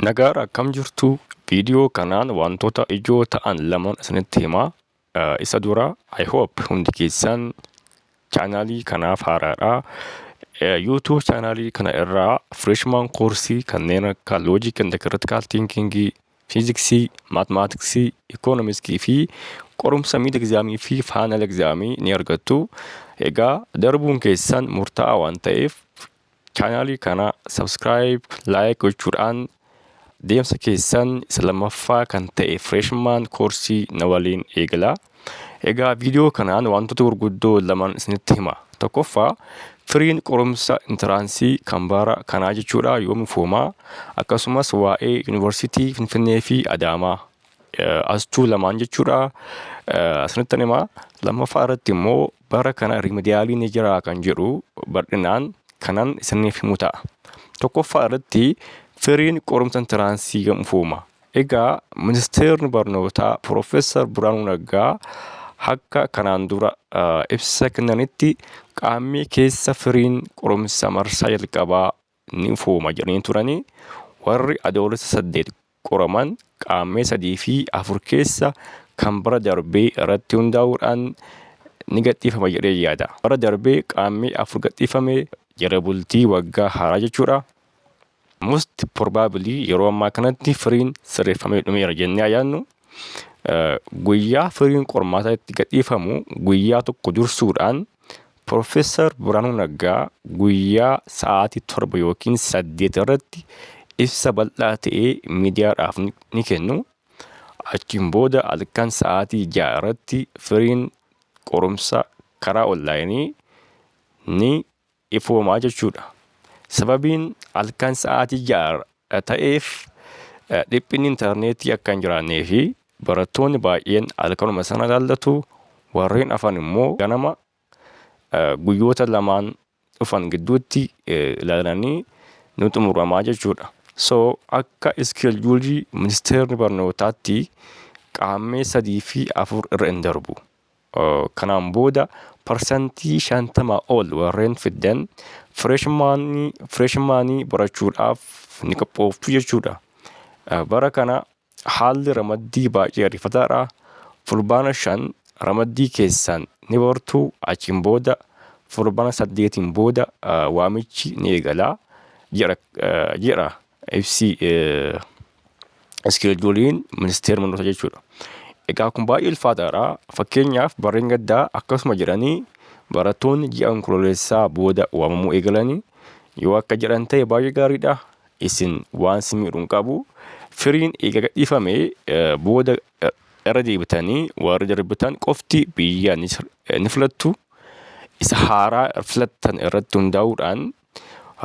Nagaadha akkam jirtu video kanaan wantoota ijoo ta'an laman isinitti himaa isa dura I hope hundi keessan chaanaalii kanaaf haaraadha YouTube chaanaalii kana irraa freshman koorsii kanneen akka logic and critical thinking fiiziksii maatmaatiksii ikoonomiskii fi qorumsa miid egzaamii fi faanal egzaamii ni argattu egaa darbuun keessan murtaa'aa waan ta'eef Chaanaalii kana subscribe, like gochuudhaan deemsa keessan isa lammaffaa kan ta'e freshman koorsii na waliin eegalaa. Egaa viidiyoo kanaan wantoota gurguddoo lamaan isinitti hima. Tokkoffaa firiin qorumsa intiraansii kan bara kanaa jechuudha yoom ifoomaa akkasumas waa'ee yuunivarsiitii Finfinnee fi Adaamaa astuu lamaan jechuudha isinitti hima. Lammaffaa irratti immoo Bara kana rimediyaaliin ni jiraa kan jedhu bal'inaan kanan isiniif himu ta'a. Tokkoffaa irratti firiin qorumsa intiraansii gamfuuma. Egaa ministeerri barnootaa Piroofeesar Biraanuu Naggaa akka kanaan dura ibsa kennanitti qaammee keessa firiin qorumsa marsaa jalqabaa ni ifooma jedhanii turanii warri Adoolessa 8 qoraman Qaammee 3 fi 4 keessa kan bara darbee irratti hundaa'uudhaan ni gadhiifama jedhee yaada. Bara darbe Qaammee 4 gadhiifame jala bultii waggaa haaraa jechuudha. Most probably yeroo ammaa kanatti firiin sirreeffamee dhumeera jennee haa yaadnu. Guyyaa firiin qormaataa itti gadhiifamu guyyaa tokko dursuudhaan Pirofeesar Birhaanuu Naggaa guyyaa sa'aatii 7 ykn 8 irratti ibsa bal'aa ta'e miidiyaadhaaf ni kennu. Achiin booda halkan sa'aatii 6 irratti firiin qorumsa karaa onlaayinii ni ifooma jechuudha. Sababiin halkan sa'aatii 6 ta'eef dhiphinni intarneetii akka hin jiraannee fi Barattoonni baay'een halkanuma sana ilaallatu, warreen hafan immoo ganama guyyoota lamaan dhufan gidduutti ilaalanii ni xumuramaa jechuudha. So akka iskeeljuulii ministeerri barnootaatti qaammee 3 fi 4 irra hin darbu. Kanaan booda parsantii 50 ol warreen fiddan fireeshmaanii barachuudhaaf ni qophooftu jechuudha. Bara kana haalli ramaddii baay'ee ariifataadha. Fulbaana 5 ramaddii keessan ni bartu achiin booda fulbaana 8n booda waamichi ni eegala jedha ibsi iskeejuuliin ministeera manoota jechuudha. Egaa kun baay'ee ulfaataadha. Fakkeenyaaf barreen gaddaa akkasuma jedhanii barattoonni ji'a onkololeessaa booda waamamuu eegalanii yoo akka jedhan ta'e baay'ee gaariidha. Isin waan si miidhu hin qabu. Firiin eega gadhiifame booda irra deebitanii warri darbitan qofti biyya ni filattu. Isa haaraa filattan irratti hundaa'uudhaan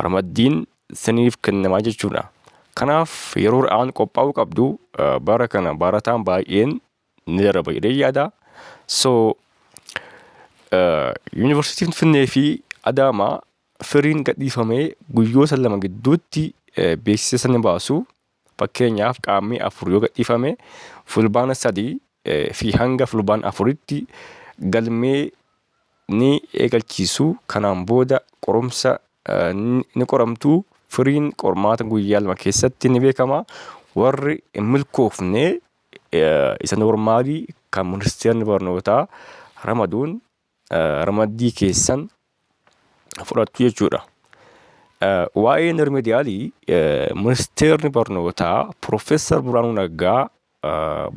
ramaddiin siniif kennama jechuudha. Kanaaf yeroo ra'aan qophaa'uu qabdu bara kana barataan baay'een ni daraba jedhee yaada. So yuunivarsiitiin Finnee fi Adaamaa firiin gadhiifamee guyyoota lama gidduutti beeksisa ni baasu. Fakkeenyaaf Qaammee 4 yoo gadhiifame Fulbaana 3 fi hanga Fulbaana 4tti galmee ni eegalchiisu. Kanaan booda qorumsa ni qoramtu. Firiin qormaata guyyaa lama keessatti ni beekama. Warri hin milkoofne isa noormaalii kan ministeerri barnootaa ramaduun ramaddii keessan fudhattu jechuudha. Waa'een rimediyaalii ministeerri barnootaa Piroofeesar Birhaanuu Naggaa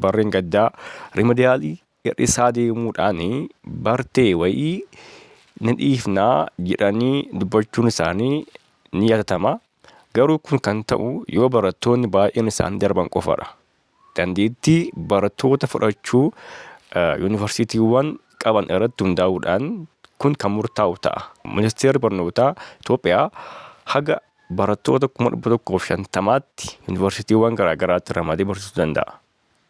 barreen gaddaa rimediyaalii hir'isaa deemuudhaan bartee wayii ni dhiifnaa jedhanii dubbachuun isaanii ni yaadatama. Garuu kun kan ta'u yoo barattoonni baay'een isaanii darban qofadha. Dandeettii barattoota fudhachuu yuunivarsiitiiwwan qaban irratti hundaa'uudhaan kun kan murtaa'u ta'a. Ministeerri Barnootaa Itoophiyaa haga barattoota kuma 150tti yuunivarsiitiiwwan garaa garaatti ramadee barsiisuu danda'a.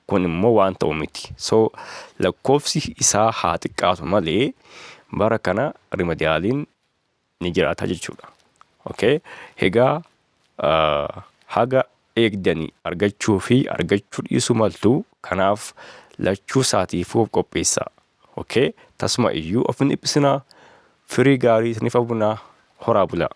Kun immoo waan ta'u miti. So lakkoofsi isaa haa xiqqaatu malee bara kana rimediyaaliin ni jiraata jechuudha. Okay. Hegaa haga eegdanii argachuu fi argachuu dhiisuu maltu kanaaf lachuu isaatiifuu of qopheessaa. Okay. Tasuma iyyuu of hin dhiphisinaa firii gaarii isiniif hawwinaa horaa bulaa.